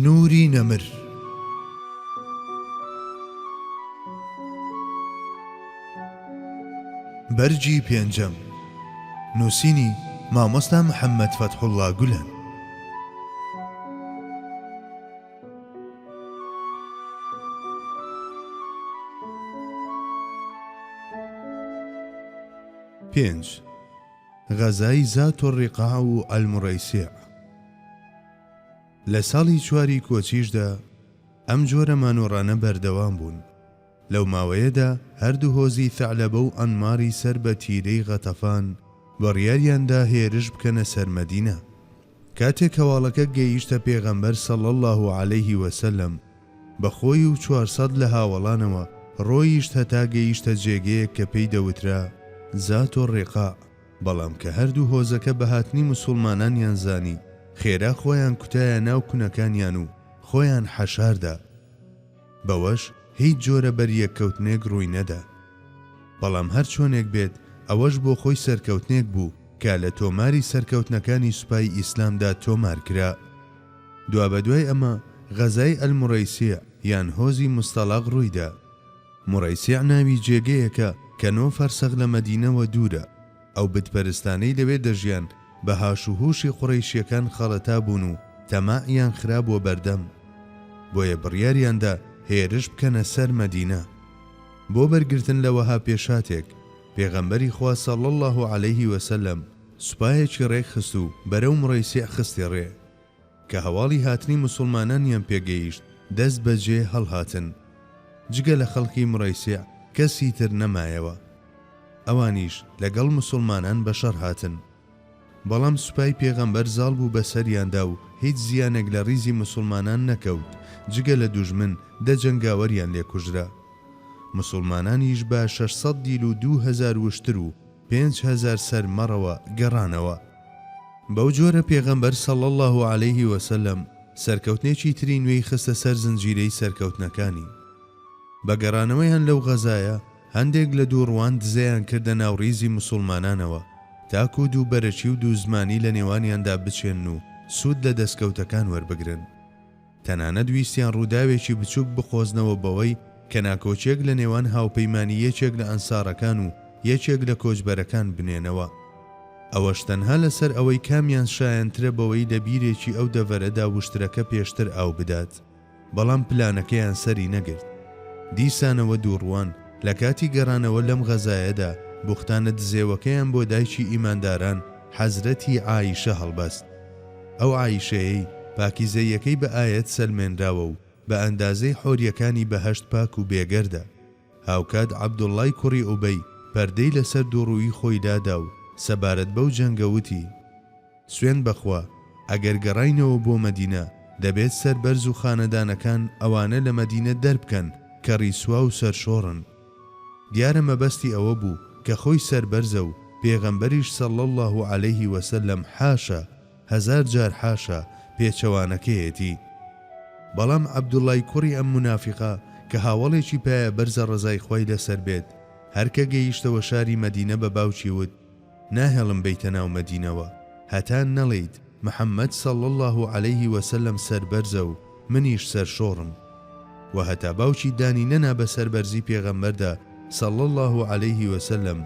نوری نەمر بەرگی پێنجەم نووسینی مامۆستا محەممەد فەتحوڵا گولەن پێنج غەزای زات و ڕقا و ئەلمڕیسێ لە ساڵی چواری کۆچیشدا ئەم جۆرە مانۆڕانە بەردەوام بوون. لەو ماوەیەدا هەردوو هۆزی ثەعلەبە و عەنماری سەر بە تیرەی غەتەفان بڕیاریان دا هێرش بکەنە سەر مەدینە. کاتێک هەواڵەکە گەیشتە پێغەمبەر صلی اللە علیه و سلم بە خۆی و چوار سەد لە هاوەڵانەوە ڕۆیشت هەتا گەیشتە جێگەیەک کە پێی دەوترا ذات الرقاع. بەڵام کە هەردوو هۆزەکە بە هاتنی مسوڵمانانیان زانی، خێرا خۆیان کوتایە ناو کونەکانیان و خۆیان حەشاردا. بەوەش هیچ جۆرە بەریەککەوتنێک ڕووی نەدا. بەڵام هەر چۆنێک بێت ئەوەش بۆ خۆی سەرکەوتنێک بوو کە لە تۆماری سەرکەوتنەکانی سوپای ئیسلامدا تۆمار کرا. دوابەدوای ئەمە غەزای المریسیع یان هۆزی مستەڵاق ڕووی دا. موڕەیسیع ناوی جێگەیەکە کە نۆ فەرسەخ لە مەدینەوە دوورە، ئەو بت پەرستانەی لەوێ دەژیان بە هاش و هوشی قوڕەیشیەکان خەڵەتا بوون و تەماعیان خرابووە بەردەم بۆیە بڕیاریان دا هێرش بکەنە سەر مەدینە بۆ بەرگرتن لە وەها پێشهاتێک پێغەمبەری خوا صلی اللە علیه وسلم سوپایەکی ڕێک خست و بەرەو موڕەیسیع خستی ڕێ. کە هەواڵی هاتنی موسوڵمانانیان پێ گەیشت دەست بە جێ هەڵهاتن جگە لە خەڵکی مڕەیسیع کەسی تر نەمایەوە ئەوانیش لە گەڵ موسوڵمانان بە شەڕ هاتن بەڵام سوپای پێغەمبەر زاڵ بوو بە سەریاندا و هیچ زیانێک لە ڕیزی موسوڵمانان نەکەوت جگە لە دوژمن دە جەنگاوەریان لێ کوژرا موسوڵمانانیش بە شەش سەد دیل و دوو هەزار وشتر و پێنج هەزار سەر مەڕەوە گەڕانەوە. بەو جۆرە پێغەمبەر صلی اللە علیە وسلم سەرکەوتنێکی تری نوێی خستە سەر زنجیرەی سەرکەوتنەکانی. بە گەڕانەوەیان لەو غەزایە هەندێک لە دووڕووان دزەیان کردە ناو ڕیزی موسوڵمانانەوە تاکو دوو بەرەکی و دوو زمانی لە نێوانیاندا بچێنن و سوود لە دەستکەوتەکان وەربگرن. تەنانەت ویستیان ڕووداوێکی بچووک بقۆزنەوە بەوەی کە ناکۆکیەک لە نێوان هاوپەیمانی یەکێک لە ئەنسارەکان و یەکێک لە کۆچبەرەکان بنێنەوە ئەوەش تەنها لەسەر ئەوەی کامیان شایەنترە بەوەی لە بیرێکی ئەو دەڤەرەدا وشترەکە پێشتر ئاو بدات بەڵام پلانەکەیان سەری نەگرت دیسانەوە دووڕووان لە کاتی گەڕانەوە لەم غەزایەدا بوختانە دزێوەکەیان بۆ دایکی ئیمانداران حەزرەتی عائیشە هەڵبەست. ئەو عائیشەیەی پاکیزەییەکەی بە ئایەت سەلمێنراوە و بە ئەندازەی حۆریەکانی بەهەشت پاک و بێگەردە. هاوکات عەبدوڵڵای کوڕی ئوبەی پەردەی لەسەر دووڕوویی خۆی دادا و سەبارەت بەو جەنگە وتی، سوێند بە خوا ئەگەر گەڕاینەوە بۆ مەدینە دەبێت سەربەرز و خانەدانەکان ئەوانە لە مەدینە دەربکەن کە ڕیسوا و سەرشۆڕن. دیارە مەبەستی ئەوە بوو کە خۆی سەربەرزە و پێغەمبەریش صلی اللە علیە و سلم حاشا، هەزار جار حاشا، پێچەوانەکەیەتی. بەڵام عەبدوڵڵای کوڕی ئەم مونافیقە کە هاوەڵێکی پایەبەرزە ڕەزای خوای لەسەر بێت، هەر کە گەیشتەوە شاری مەدینە بە باوکی وت، ناهێڵم بێیتە ناو مەدینەوە هەتا نەڵێیت محمد صلی اللە علیە وسلم سەربەرزە و منیش سەرشۆڕم. وە هەتا باوکی دانی نەنا بە سەربەرزی پێغەمبەردا صلی اللە علیە وسلم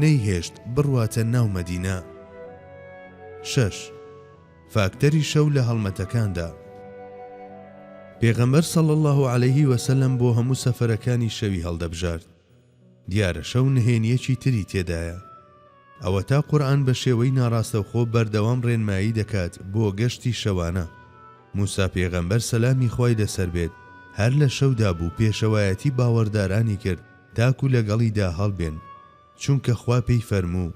نەیهێشت بڕواتە ناو مەدینە. شەش، فاکتەری شەو لە هەڵمەتەکاندا. پێغەمبەر صلی اللە علیە وسلم بۆ هەموو سەفەرەکانی شەوی هەڵدەبژارد. دیارە شەو نهێنییەکی تری تێدایە. ئەوەتا قورئان بە شێوەی ناڕاستەوخۆ بەردەوام ڕێنمایی دەکات بۆ گەشتی شەوانە. موسا پێغەمبەر سەلامی خوای لەسەر بێت هەر لە شەودا بوو پێشەوایەتی باوەڕدارانی کرد تاکو لەگەڵیدا هەڵبێن، چونکە خوا پێی فەرموو،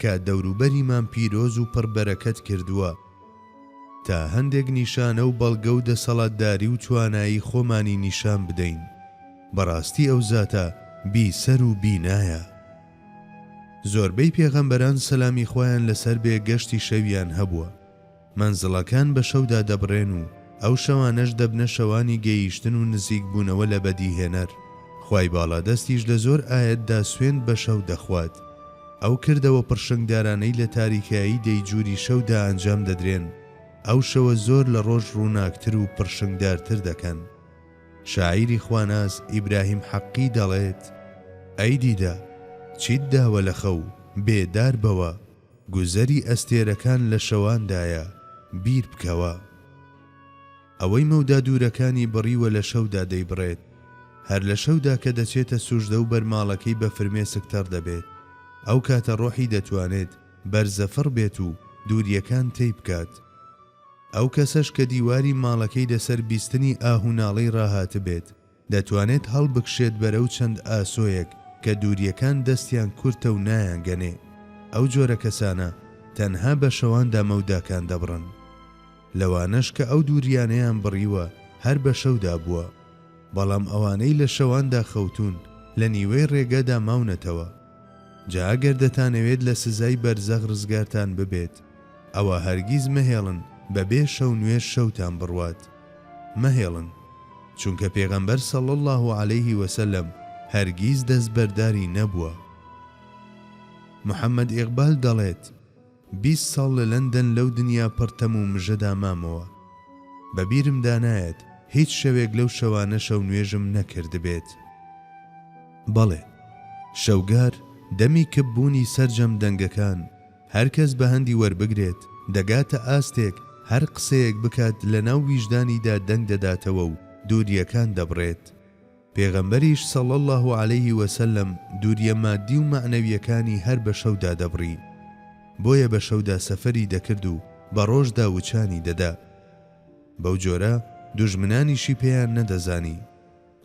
کە دەوروبەریمان پیرۆز و پڕ بەرەکەت کردووە، تا هەندێک نیشانە و بەڵگە و دەسەڵاتداری و توانایی خۆمانی نیشان بدەین، بەڕاستی ئەو زاتە بی سەر و بینایە. زۆربەی پێغەمبەران سەلامی خوایان لەسەر بێ گەشتی شەویان هەبووە. مەنزڵەکان بە شەودا دەبڕێن و ئەو شەوانەش دەبنە شەوانی گەییشتن و نزیک بوونەوە لە بەدیهێنەر. خوای باڵادەستیش لە زۆر ئایەتدا سوێند بە شەو دەخوات. ئەو کردەوە پڕشنگدارانەی لە تاریکایی دەیجووری شەودا ئەنجام دەدرێن، ئەو شەوە زۆر لە ڕۆژ ڕووناکتر و پڕشنگدارتر دەکەن. شاعیری خواناس ئیبراهیم حەققی دەڵێت، ئەی دیدە! چیت داوە لە خەو، بێدار بەوە! گوزەری ئەستێرەکان لە شەواندایە، بیر بکەوە. ئەوەی مەودا دوورەکانی بڕیوە لە شەودا دەیبڕێت. هەر لە شەودا کە دەچێتە سوژدە و بەرماڵەکەی بە فرمێسک تەڕ دەبێت، ئەو کاتە ڕۆحی دەتوانێت بەرزەفڕ بێت و دوورییەکان تەی بکات. ئەو کەسەش کە دیواری ماڵەکەی لەسەر بیستنی ئاه و ناڵەی ڕاهاتبێت، دەتوانێت هەڵبکشێت بەرەو چەند ئاسۆیەک کە دوورییەکان دەستیان کورتە و نایانگەنێ، ئەو جۆرە کەسانە تەنها بە شەواندا مەوداکان دەبڕن. لەوانەش کە ئەو دوورییانەیان بڕیوە هەر بە شەودا بووە، بەڵام ئەوانەی لە شەواندا خەوتوون لە نیوەی ڕێگەدا ماونەتەوە. جا ئەگەر دەتانەوێت لە سزای بەرزەخ ڕزگارتان ببێت ئەوا هەرگیز مەهێڵن بەبێ شەو نوێژ شەوتان بڕوات، مەهێڵن، چونکە پێغەمبەر صلی اللە علیه وسلم هەرگیز دەستبەرداری نەبووە. محمد ئیقبال دەڵێت. بیست ساڵ لە لەندەن لەو دنیا پڕ تەم و مژەدا مامەوە، بە بیرمدا نایەت هیچ شەوێک لەو شەوانە شەونوێژم نەکردبێت. بەڵێ، شەوگار، دەمی کپ بوونی سەرجەم دەنگەکان، هەر کەس بە هەندی وەربگرێت، دەگاتە ئاستێک هەر قسەیەک بکات لەناو ویژدانیدا دەنگ دەداتەوە و دوورییەکان دەبڕێت. پێغەمبەریش صلی اللە علیە وسلم دووریە مادی و مەعنەویەکانی هەر بە شەودا دەبڕی بۆیە بە شەودا سەفەری دەکرد و بە ڕۆژدا وچانی دەدا بەو جۆرە دوژمنانیشی پێیان نەدەزانی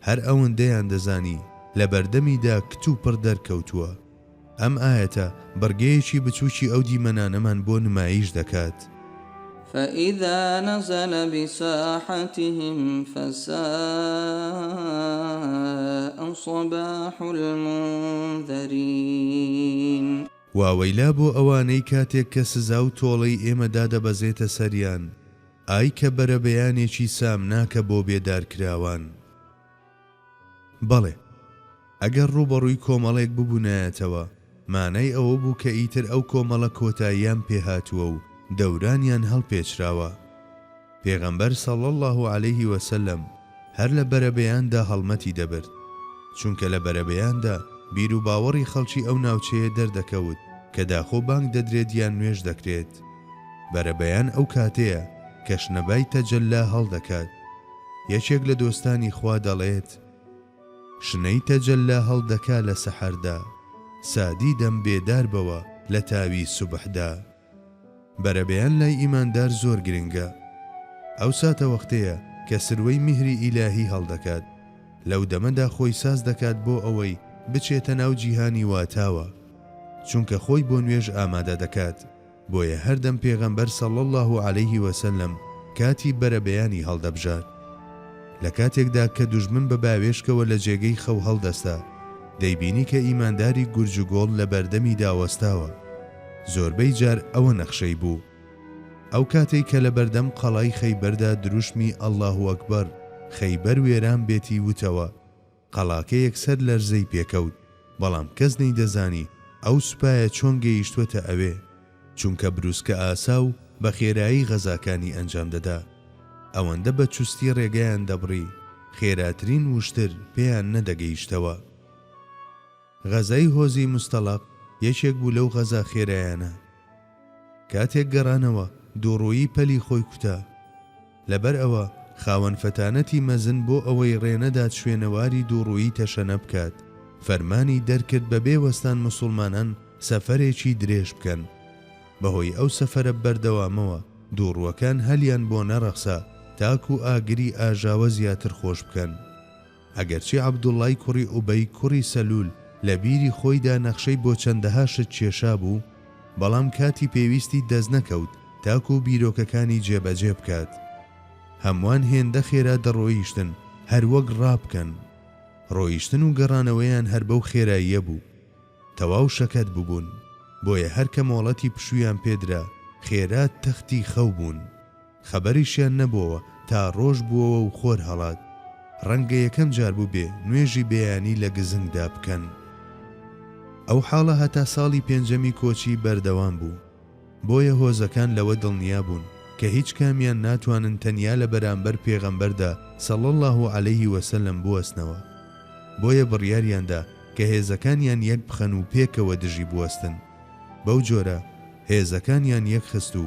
هەر ئەوەندەیان دەزانی لە بەردەمیدا کتوپڕ دەرکەوتووە. ئەم ئایەتە بڕگەیەکی بچووکی ئەو دیمەنانەمان بۆ نماییش دەکات. فإذا نزل بساحتهم فساء صباح المنذرین. واوەیلا بۆ ئەوانەی کاتێک کە سزا و تۆڵەی ئێمە دادەبەزێتە سەریان، ئای کە بەرەبەیانێکی سامناکە بۆ بێدارکراوان. بەڵێ، ئەگەر ڕووبەڕووی کۆمەڵێک ببوونایەتەوە، مانای ئەوە بوو کە ئیتر ئەو کۆمەڵە کۆتاییان پێ هاتووە و دەورانیان هەڵپێچراوە. پێغەمبەر صلی اللە علیه و سلم هەر لە بەرەبەیاندا هەڵمەتی دەبرد، چونکە لە بەرەبەیاندا بیروباوەڕی خەڵکی ئەو ناوچەیە دەردەکەوت کە داخۆ بانگ دەدرێت یان نوێژ دەکرێت. بەرەبەیان ئەو کاتەیە کە شنەبای تەجەللا هەڵدەکات. یەکێک لە دۆستانی خوا دەڵێت، شنەی تەجەللا هەڵدەکا لە سەحەردا، سادی دەم بێدار بەوە لە تاوی سوبحدا. بەرەبەیان لای ئیماندار زۆر گرنگە. ئەو ساتەوەختەیە کە سروەی میهری ئیلاهی هەڵدەکات، لەو دەمەدا خۆی ساز دەکات بۆ ئەوەی بچێتە ناو جیهانی واتاوە، چونکە خۆی بۆ نوێژ ئامادە دەکات. بۆیە هەردەم پێغەمبەر صلی اللە علیە وسلم کاتی بەرەبەیانی هەڵدەبژارد لە کاتێکدا کە دوژمن بە باوێشکەوە لە جێگەی خەو هەڵدەستا دەیبینی کە ئیمانداری گورج و گۆڵ لە بەردەمیدا وەستاوە زۆربەی جار ئەوە نەخشەی بوو ئەو کاتەی کە لە بەردەم قەڵای خەیبەردا دروشمی اللە اکبر خەیبەر وێران بێتی وتەوە، قەڵاکە یەکسەر لەرزەی پێکەوت، بەڵام کەس نەیدەزانی ئەو سوپایە چۆن گەیشتووەتە ئەوێ، چونکە برووسکە ئاسا و بە خێرایی غەزاکانی ئەنجام دەدا. ئەوەندە بە چوستی ڕێگەیان دەبڕی، خێراترین وشتر پێیان نەدەگەیشتەوە. غەزای هۆزی موستەڵەق یەکێک بوو لەو غەزا خێرایانە. کاتێک گەڕانەوە دووڕوویی پەلی خۆی کوتا. لەبەر ئەوە خاوەن فەتانەتی مەزن بۆ ئەوەی ڕێ نەدات شوێنەواری دووڕوویی تەشەنە بکات، فەرمانی دەرکرد بە بێ وەستان موسوڵمانان سەفەرێکی درێژ بکەن. بە هۆی ئەو سەفەرە بەردەوامەوە دووڕووەکان هەلیان بۆ نەڕەخسا تاکوو ئاگری ئاژاوە زیاتر خۆش بکەن. ئەگەرچی عەبدوڵڵای کوڕی ئوبەی کوڕی سەلول لە بیری خۆیدا نەخشەی بۆ چەندەها شت کێشابوو، بەڵام کاتی پێویستی دەستنەکەوت تاکوو بیرۆکەکانی جێبەجێ بکات. هەمووان هێندە خێرا دەڕۆیشتن هەر وەک ڕا بکەن. ڕۆیشتن و گەڕانەوەیان هەر بەو خێراییە بوو. تەواو شەکەت ببوون، بۆیە هەر کە مۆڵەتی پشوویان پێ درا، خێرا تەختی خەو بوون. خەبەریشیان نەبۆوە تا ڕۆژ بووەوە و خۆر هەڵات. ڕەنگە یەکەم جار بووبێ نوێژی بەیانی لە گزنگدا بکەن. ئەو حاڵە هەتا ساڵی پێنجەمی کۆچی بەردەوام بوو. بۆیە هۆزەکان لەوە دڵنیا بوون کە هیچ کامیان ناتوانن تەنیا لە بەرانبەر پێغەمبەردا صلی اللە علیه و سلم بوەستنەوە. بۆیە بڕیاریان دا کە هێزەکانیان یەک بخەن و پێکەوە دژی بوەستن. بەو جۆرە هێزەکانیان یەک خست و.